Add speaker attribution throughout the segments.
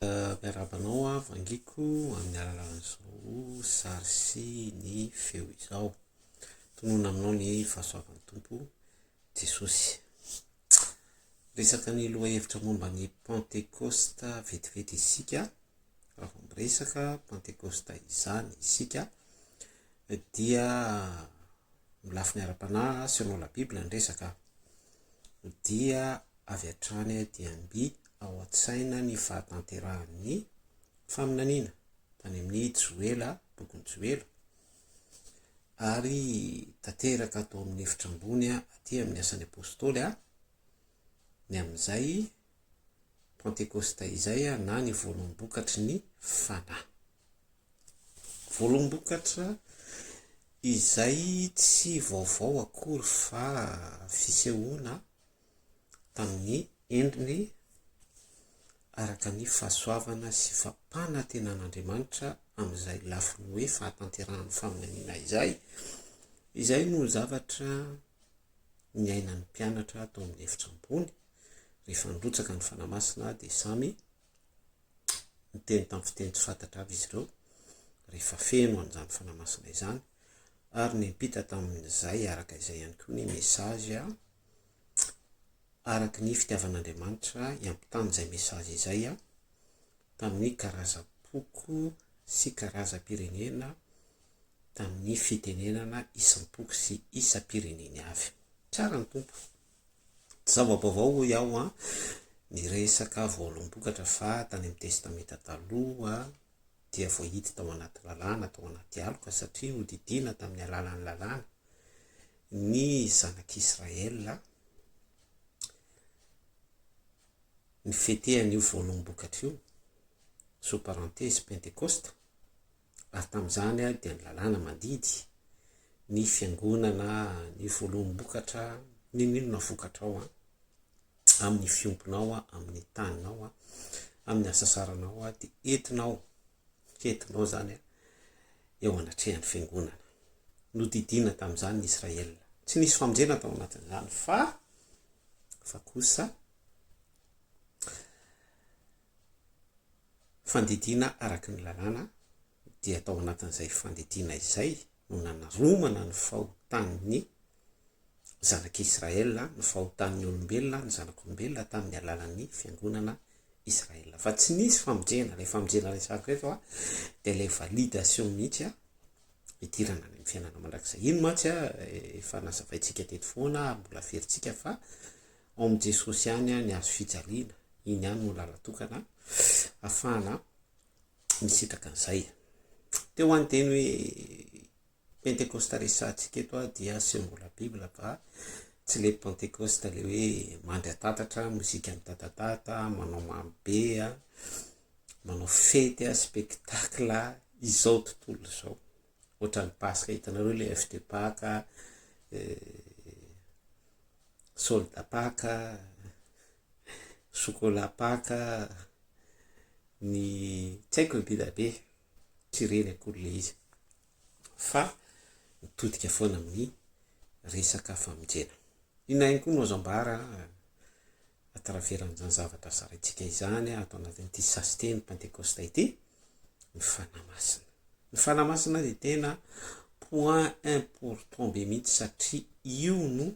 Speaker 1: Miarahaba anao aho Vangiako amin'ny alalan'izao sary sy ny feo izao. Tononina aminao ny fahasoavan'ny Tompo Jesosy. Resaka ny lohahevitra momba ny Pantekosta vetivety isika, raha vao miresaka Pantekosta izany isika dia amin'ny lafiny ara-panahy sy amin'ny Biblia ny resaka dia avy hatrany dia mby ao an-tsaina ny fahatanterahan'ny faminaniana tany amin'ny Joela, bokin'i Joela, ary tanteraka ato amin'ny efitra ambony aty amin'ny Asan'ny Apôstôly ny amin'izay Pantekôsta izay na ny voalombokatry ny Fanahy. Voalombokatra izay tsy vaovao akory fa fisehoana tamin'ny endriny araka ny fahasoavana sy fampanantenan'Andriamanitra amin'izay lafiny hoe fahatanterahan'ny faminaniana izay, izay no zavatra niainan'ny mpianatra tao amin'ny efitra ambony, rehefa nirotsaka ny Fanahy Masina dia samy niteny tamin'ny fiteny tsy fantatra avy izy ireo, rehefa feno an'izany Fanahy Masina izany, ary niampita tamin'izay araka izay ihany koa ny message. araka ny fitiavan'Andriamanitra hiampitany izay message izay tamin'ny karazam-poko sy karazam-pirenena tamin'ny fitenenana isam-poko sy isam-pireneny avy. Tsara ny Tompo. Tsy zava-baovao hoy aho an, ny resaka voaolom-bokatra fa tany amin'ny Testamenta Taloha dia voahidy tao anaty lalàna, tao anaty aloka satria nodidiana tamin'ny alalan'ny lalàna. ny zanak'Israël ny fete an'io voaloham-bokatra io, sous parenthèse pentecoste, ary tamin'izany dia ny lalàna mandidy ny fiangonana ny voaloham-bokatra n'inon'inona vokatrao an, amin'ny fiompinao, amin'ny taninao, amin'ny hasasaranao dia entinao Fentinao izany eo anatrehan'ny fiangonana. Nodidiana tamin'izany ny Israelina. Tsy nisy famonjena tao anatin'izany fa fa kosa fandidiana araka ny lalàna dia tao anatin'izay fandidiana izay no nanaromana ny fahotan'ny Zanak'i Israël, ny fahotan'ny olombelona, ny zanak'olombelona tamin'ny alalan'ny fiangonana Israël. Fa tsy nisy famonjena, ilay famonjena resako eto a, dia ilay validation mihitsy a, hidirana any amin'ny fiainana mandrakizay. Iny mantsy a, efa nazavaintsika teto foana, mbola averintsika fa ao amin'i Jesosy ihany ny hazo fijaliana, iny ihany no lalatokana afahana nisitraka an'izay. Teo ho any teny hoe Pentekosta resahantsika eto aho dia aseho mbola Bible fa tsy le Pentekosta le hoe mandry atatatra, mozika mitatatata, manao marobe, manao fety, spectacle, izao tontolo izao. Ohatran'ny Paska hitanareo le FT Paka, eh, solda Paka, chocolat paka ny tsy haiko ny be dia be tsy reny akory ilay izy fa mitodika foana amin'ny resaka famonjena inona ihany koa no azo ambara à travers an'izany zavatra zaraintsika izany ato anatin'ity sasite ny pentekosta ity ny fanahy masina ny fanahy masina dia tena point important be mihitsy satria io no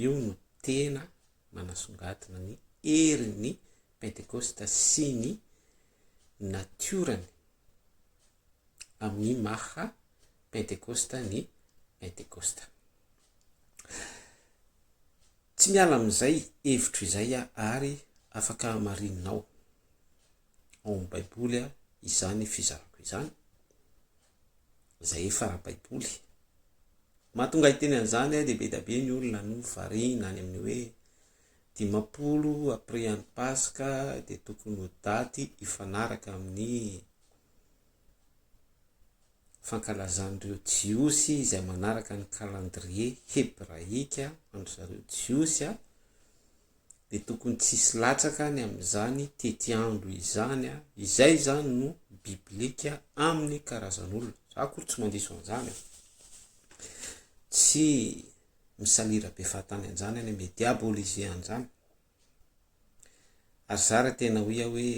Speaker 1: Io no tena manasongadina ny herin'ny Pentekosta sy ny natiorany amin'ny maha Pentekosta ny Pentekosta. Tsy miala amin'izay hevitro izay aho ary afaka hamarininao ao amin'ny Baiboly izany fizarako izany. izay efa ara-baiboly. Mahatonga hiteny an'izany dia be dia be ny olona no variana any amin'ny hoe dimampolo après an'ny Paska dia tokony ho daty hifanaraka amin'ny fankalazan'ireo Jiosy izay manaraka ny calendrier hebraika an-dry zareo Jiosy dia tokony tsy hisy latsaka any amin'izany tetiandro izany, izay izany no biblika amin'ny karazan'olona, za akory tsy mandiso an'izany, tsy misalira be fahatany an'izany any amin'ny diabolise an'izany, ary za raha tena hoy aho hoe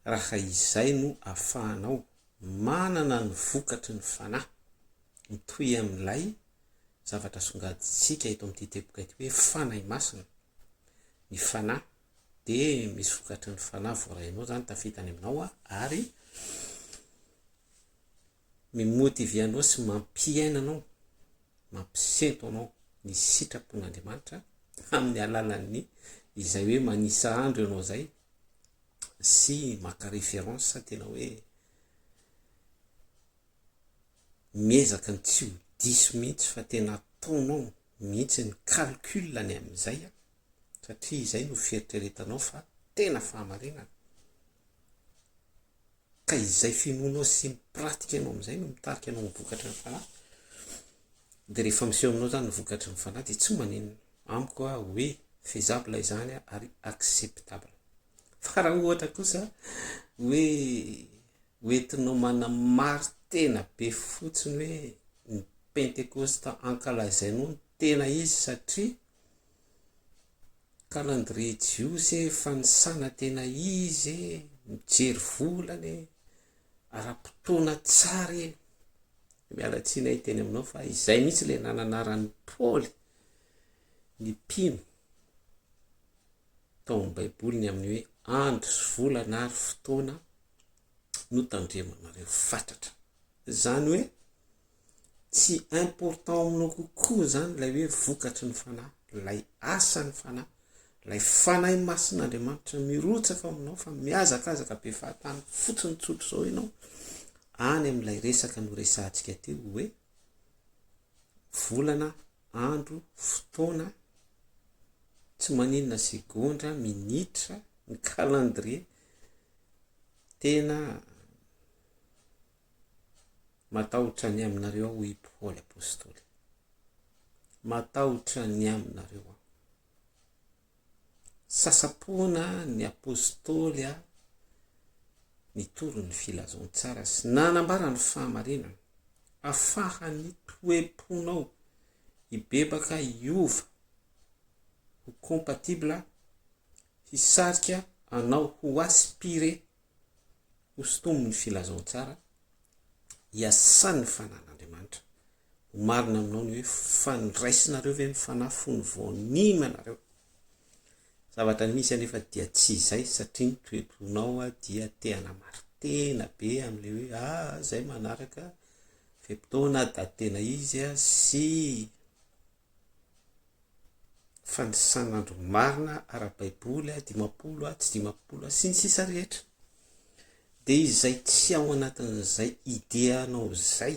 Speaker 1: raha izay no afahanao manana ny vokatry ny fanahy mitohy amin'ilay zavatra asongadintsika eto amin'ity teboka ity hoe Fanahy Masina. Ny Fanahy dia misy vokatry ny Fanahy voarainao izany tafita any aminao ary mimotivy anao sy mampiaina anao, mampisento anao ny sitrapon'Andriamanitra amin'ny alalan'ny izay hoe manisa andro ianao izay sy maka référence tena hoe Miezaka ny tsy ho diso mihitsy fa tena ataonao mihitsy ny calcul ny amin'izay an, satria izay no fieritreretanao fa tena fahamarinana, ka izay finoanao sy ny pratique nao amin'izay no mitarika anao amin'ny vokatry ny fanahy, dia rehefa miseho aminao izany ny vokatry ny fanahy dia tsy maninona amiko aho hoe faisable izany an ary acceptable, fa raha ohatra kosa hoe Ho entinao manamari-tena be fotsiny hoe ny Pentekosta ankalazainao no tena izy satria calendrier jiosy e, fanisana tena izy e, mijery volana e, ara-potoana tsara e. Miala tsiny ahy teny aminao fa izay mihitsy ilay nananaran'i Paoly ny mpino tao amin'ny Baiboly ny amin'ny hoe andro sy volana ary fotoana notandremanareo fatratra zany hoe tsy important aminao kokoa zany lay hoe vokatry ny fanahy lay asan'ny fanahy lay fanahy masin'andriamanitra mirotsaka aminao fa miazakazaka be fahatany fotsiny tsotro zao ianao any am'ilay resaka no resantsika teo hoe volana andro fotoana tsy maninona segondra minitra ny calendrier Tena matahotra ny aminareo aho, hoy Paoly Apostoly. Matahotra ny aminareo aho. Sasapoana ny Apostoly aho nitory ny filazantsara sy nanambara ny fahamarinana. Afahan'ny toe-ponao hibebaka hiova ho compatible hisarika anao ho aspire ho sintomin'ny filazantsara iasan'ny fanan'Andriamanitra. Ho marina aminao ny hoe fandraisinareo ve ny fanahy fony vao nino ianareo? Zavatra misy anefa dia tsy izay satria ny toe-ponao dia te hanamaritena be amin'ilay hoe ah izay manaraka fe-potoana da tena izy sy Fanisana andro marina ara-baiboly dimampolo sy dimampolo sy ny sisa rehetra dia izay tsy ao anatin'izay ideanao izay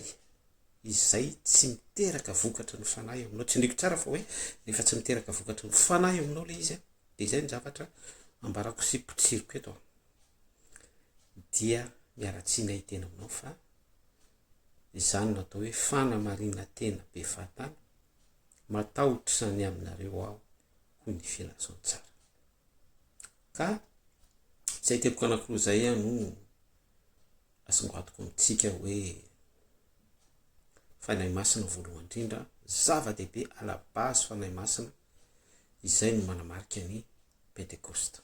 Speaker 1: izay tsy miteraka vokatry ny fanahy ao aminao, tsindriko tsara fa hoe rehefa tsy miteraka vokatry ny fanahy ao aminao ilay izy an, dia izay no zavatra ambarako sy potsiriko eto an, dia miala tsiny ahy hiteny aminao fa. izany no atao hoe fanamarinantena be fahatany, matahotra izany aminareo aho, hoy ny Fianazantsara. Ka izay teboka anankiroa izay no asongadiko amintsika hoe Fanahy Masina voalohany indrindra, zava-dehibe à la base Fanahy Masina, izay no manamarika ny Pentekosta.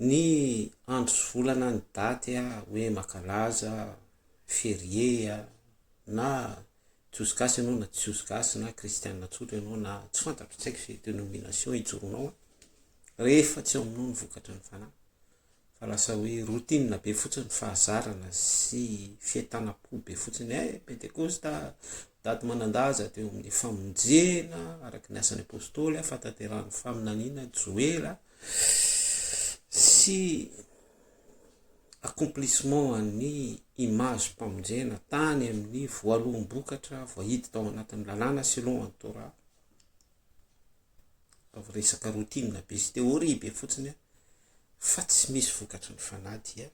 Speaker 1: Ny andro sy volana ny daty hoe makalaza, ferie a, na jiosy gasy ianao na tsy jiosy gasy na kristiana tsotra ianao na tsy fantatro tsy haiko izay denomination ijoroanao a, rehefa tsy ao aminao ny vokatry ny fanahy fa lasa hoe routine be fotsiny fahazarana sy fientanam-po be fotsiny eh pentekosta daty manan-daza teo amin'ny famonjena araka ny asan'ny apôstôly ah, fahatanterahan'ny faminaniana joela sy accomplissement an'ny image mpamonjena tany amin'ny voaloham-bokatra voahidy tao anatin'ny lalàna selon an'ny Torah ataovy resaka routine be sy théorie be fotsiny fa tsy misy vokatry ny fanahy dia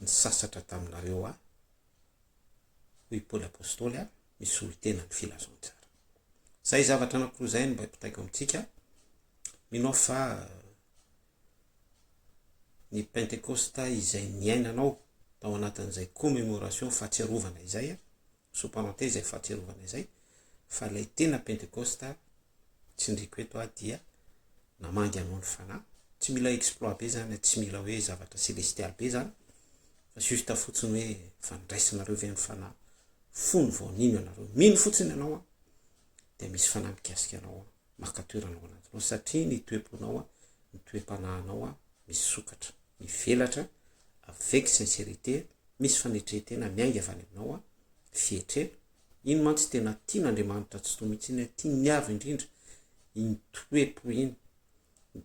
Speaker 1: nisasatra taminareo aho hoy i Paoly Apôstôly a misolo tena ny filazantsara zay zavatra anankiroa zay no mba hipitaiko amintsika mino aho fa ny pentekosta izay niainanao tao anatin'izay commémoration fahatsiarovana izay a sous parenthèse izay fahatsiarovana izay, fa ilay tena pentekosta tsindriko eto aho dia namangy anao ny fanahy, tsy mila exploit be izany, tsy mila hoe zavatra celestial be izany, fa juste fotsiny hoe efa niraisinareo ve ny fanahy, fony vao nino ianareo, mino fotsiny ianao an, dia misy fanahy mikasika anao an, maka toerana ao anatinao, satria ny toe-ponao an, ny toe-panahinao an, misokatra. mivelatra avec sincérité misy fanetrentena miainga avy any aminao a fietrena iny mantsy tena tian' Andriamanitra Tsitoha mihitsy iny tiany avy indrindra iny toe-po iny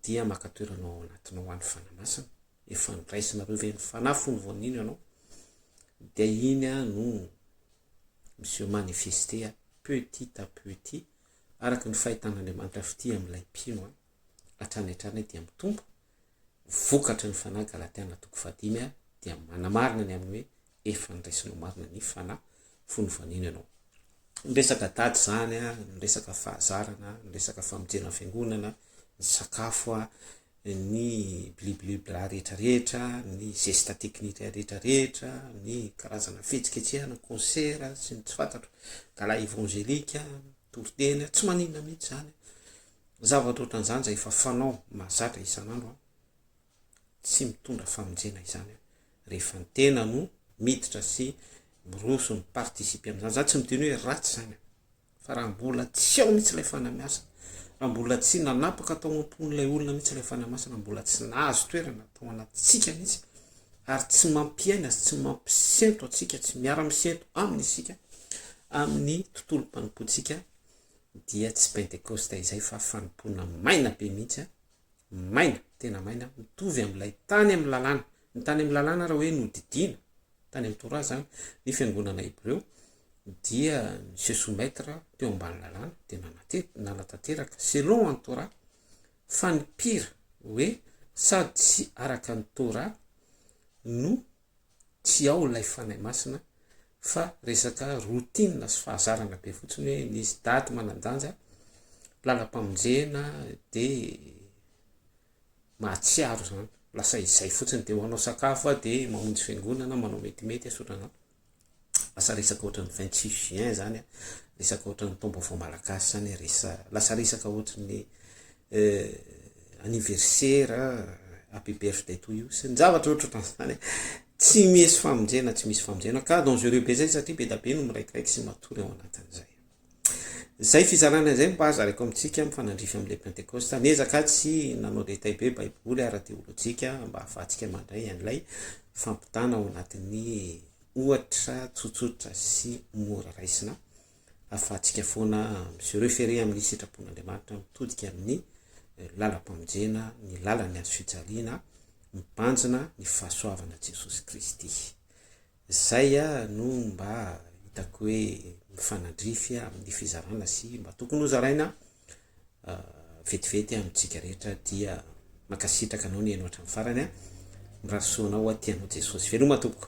Speaker 1: dia maka toerana ao anatinao any Fanahy Masina efa noraisinareo ve ny Fanahy fony vao nino ianao dia iny a no miseho manifester petit à petit araka ny fahitan' Andriamanitra fitia amin'ilay mpino a hatrany hatrany dia mitombo ny vokatry ny Fanahy Galatiana toko fahadimy aho dia manamarina ny amin'ny hoe efa niraisinao marina ny Fanahy fony nivaniana ianao. Ny resaka daty izany, ny resaka fahazarana, ny resaka famonjena fiangonana, ny sakafo, ny bliblibla rehetra rehetra, ny zesta teknika rehetra rehetra, ny karazana fihetsiketsehana, concert sy ny tsy fantatro, gala evangelique, toriteny, tsy maninona mihintsy izany. Zavatra ohatran'izany izay efa fanao mahazatra isan'andro an! Tsy mitondra famonjena izany an! Rehefa ny tena no miditra sy miroso mi-participer amin'izany. Izany tsy miteny hoe ratsy izany an! Fa raha mbola tsy ao mihitsy ilay Fanahy Masina, raha mbola tsy nanapaka tao am-pon'ilay olona mihitsy ilay Fanahy Masina, raha mbola tsy nahazo toerana tao anatintsika mihitsy, ary tsy mampiaina sy tsy mampisento antsika, tsy miara-misento Aminy isika, amin'ny tontolom-panompoantsika, dia tsy pentekosta izay fa fanompoana maina be mihitsy an! maina, tena maina, mitovy amin'ilay tany amin'ny lalàna, ny tany amin'ny lalàna raha hoe nodidiana tany amin'ny torah izany ny fiangonana hebreo dia ny se soumettre teo ambany lalàna dia nanatety, nanatanteraka selon an'i torah fa ny pire hoe sady tsy araka ny torah no tsy ao ilay Fanahy Masina fa resaka routine sy fahazarana be fotsiny hoe nisy daty manan-danja, lalam-pamonjena dia mahatsiaro izany, lasa izay fotsiny dia hoanao sakafo dia mamonjy fiangonana, manao metimety, asoranao. Lasa resaka ohatran'ny vingt six juin zany an, resaka ohatran'ny taom-baovao malagasy zany resa, lasa resaka ohatran'ny anniversaire, happy birthday to you sy ny zavatra ohatrohatran'izany tsy misy famonjena tsy misy famonjena ka dangereux be zay satria be dia be no miraikiraiky sy matory ao anatin'izay. Izay fizarana izay mba zaraiko amintsika mifanandrify amin'ilay Pentekosta. Niezaka tsy nanao détail be Baiboly ara-teolojika mba hahafahantsika mandray an'ilay fampitana ao anatin'ny ohatra tsotsotra sy mora raisina hahafahantsika foana mi-se référer amin'ny sitrapon'Andriamanitra mitodika amin'ny eh, lalam-pamonjena, ny lalan'ny hazo fijaliana, mibanjina ny fahasoavana Jesosy Kristy. Izay aho no mba hitako hoe mifanandrify amin'ny fizarana sy mba tokony ho zaraina vetivety amintsika rehetra dia mankasitraka anao nihaino hatramin'ny farany an! Mirary soa anao aty anao Jesosy veloma tompoko.